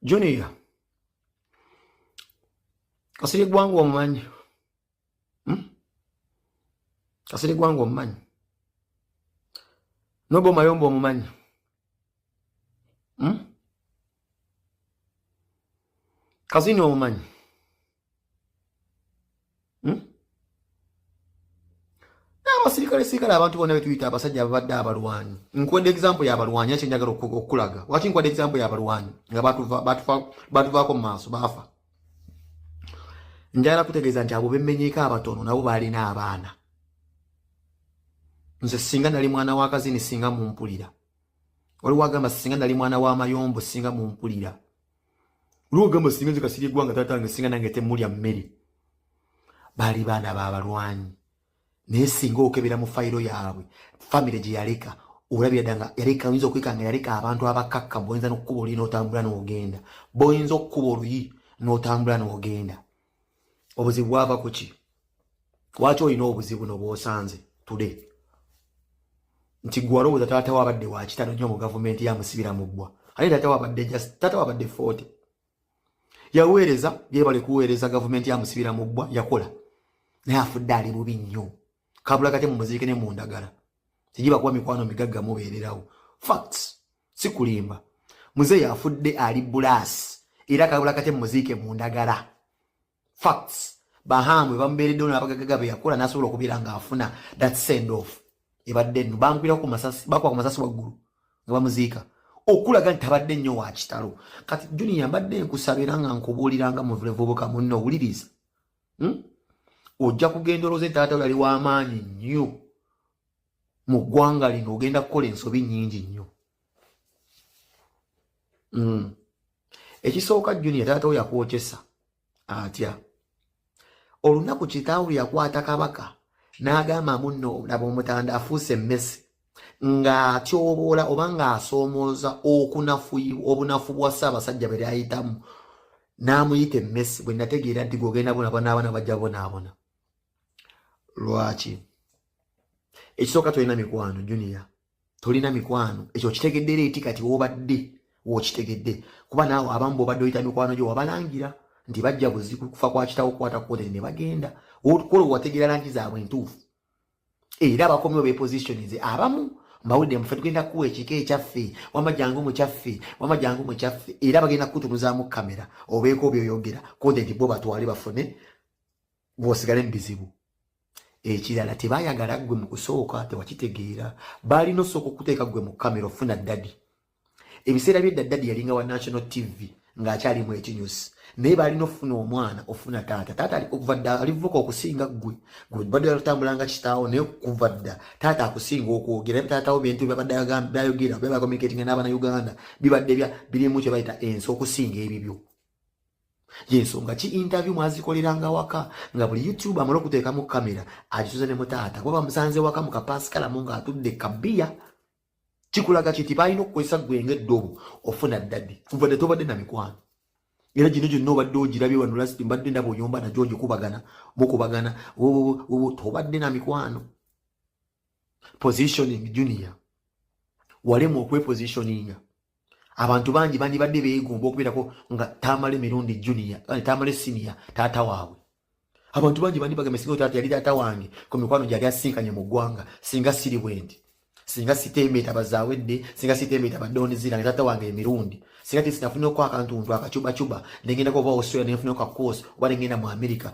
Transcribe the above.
junior kasiri gwanga omumanyi hmm? kasiri gwanga omumanyi noba omayomba omumanyi hmm? kazini omumanyi hmm? abasirikale sirikale abantu bona betuyita abasajja ababadde abalwanyi nkwenda example yabalwanyi akyo njagala okukulaga waki nkwenda example yabalwanyi nga batuvaako mu maaso baafa njagala kutegeeza nti abo bemenyeeko abatono nabo baalina abaana nze singa nali mwana wakazini singa mumpulira waliwo agamba singa nali mwana wa mayombo singa mumpulira lwogamba singa nze kasirye gwanga taata wange singa nange temulya mmere baali baana babalwanyi naye singa okebera mu fayiro yaabwe famire gye yaleka olabira dda nga yaleka oyinza okweka nga yaleka abantu abakakka boyinza nokukuba oluyi notambula nogenda boyinza okukuba oluyi notambula nogenda obuzibu bwava ku ki lwaki olina obuzibu no bwosanze tude nti gwe walowooza taata wabadde wakitano nnyo mu gavumenti yamusibira mu bbwa ate taata wabadde just taata wabadde forty yaweereza byebale kuweereza gavumenti yamusibira mu bbwa yakola naye afudde ali bubi nnyo kabula kate mumuziike ne mu ndagala tegibakuba mikwano migagga mubeererawo facts sikulimba muze yafudde ali bulaasi era kagula kate muziike mu ndagala facts bahamwe bamubeereddewo nabagagaga be yakola nasobola okubeera ngaafuna that send off ebadde nno bangwira ku masasi bakuba ku masasi waggulu nga bamuziika okulaga nti tabadde nnyo wa kitalo kati juniya mbadde nkusabira nga nkubuuliranga muvulevubuka munno owuliriza hmm? ojja kugenda oloze taata yali w'amaanyi nnyo mu ggwanga lino ogenda kukola ensobi nyingi nnyo mm. ekisooka junior taata wo yakwokyesa atya olunaku kitaawo yakwata kabaka n'agamba munno laba omutanda afuuse emmese ng'atyoboola oba ng'asoomooza okunafuyi obunafu bwa ssaabasajja bwe lyayitamu n'amuyita emmese bwe nategeera nti gogenda bona bona abana bajja bonaabona lwaki ekisooka tolina mikwano junior tolina mikwano ekyo okitegedde era eti kati wobadde wokitegedde kuba naawe abamu bobadde oyita mikwano gyo wabalangira nti bajja buzi kufa kwa kitawo okukwata kukotere ne bagenda kola owategeera langi zaabwe entuufu era abakomiwo bepositionize abamu mbawulidde mufe tugenda kuwa ekika ekyaffe wama jangu mukyaffe wama jangu mukyaffe era bagenda kukutunuzaamu kamera obeeko byoyogera kote nti bo batwale bafune ng'osigale mu bizibu ekirala tebayagala ggwe mu kusooka tewakitegeera baalina osooka okuteeka ggwe mu kamera ofuna dadi ebiseera byedda dadi yalinga wa national tv ng'akyali mu ekinyusi naye baalina ofuna omwana ofuna taata taata okuva dda alivuka okusinga ggwe gwebadde atambulanga kitaawo naye kuva dda taata akusinga okwogera naye taatawo bintu byabadde byayogera byabakomunikatinga n'abana uganda bibadde birimu kye bayita ensi okusinga ebibyo yensonga ki interview mwazikoleranga waka nga buli youtube amala okuteekamu kamera agisuza ne mutaata kuba bamusanze waka mu kapasikalamu ng'atudde kabiya kikulaga kiti balina okukozesa gwenga eddobo ofuna ddadi kuva ne tobadde na mikwano era gino gyonna obadde ogirabye wano lasti mbadde ndaba oyomba nagyo ogikubagana mukubagana tobadde na mikwano positioning junior walemu okwepositioninga abantu bangi bandibadde beegomba okubeerako nga tamale mirundi junia eh, tamale sinia taata waabwe abantu bangi bandibagambe singa taata yali taata wange ku mikwano gyali asinkanye mu ggwanga singa siri bwendi singa sitembeeta bazaawedde singa sitembeeta badoonizirange taata wange emirundi singa tisinafunyeko akantuntu akacubacuba nengendako oba australia nenfunyeko kakosi oba nengenda mu amerika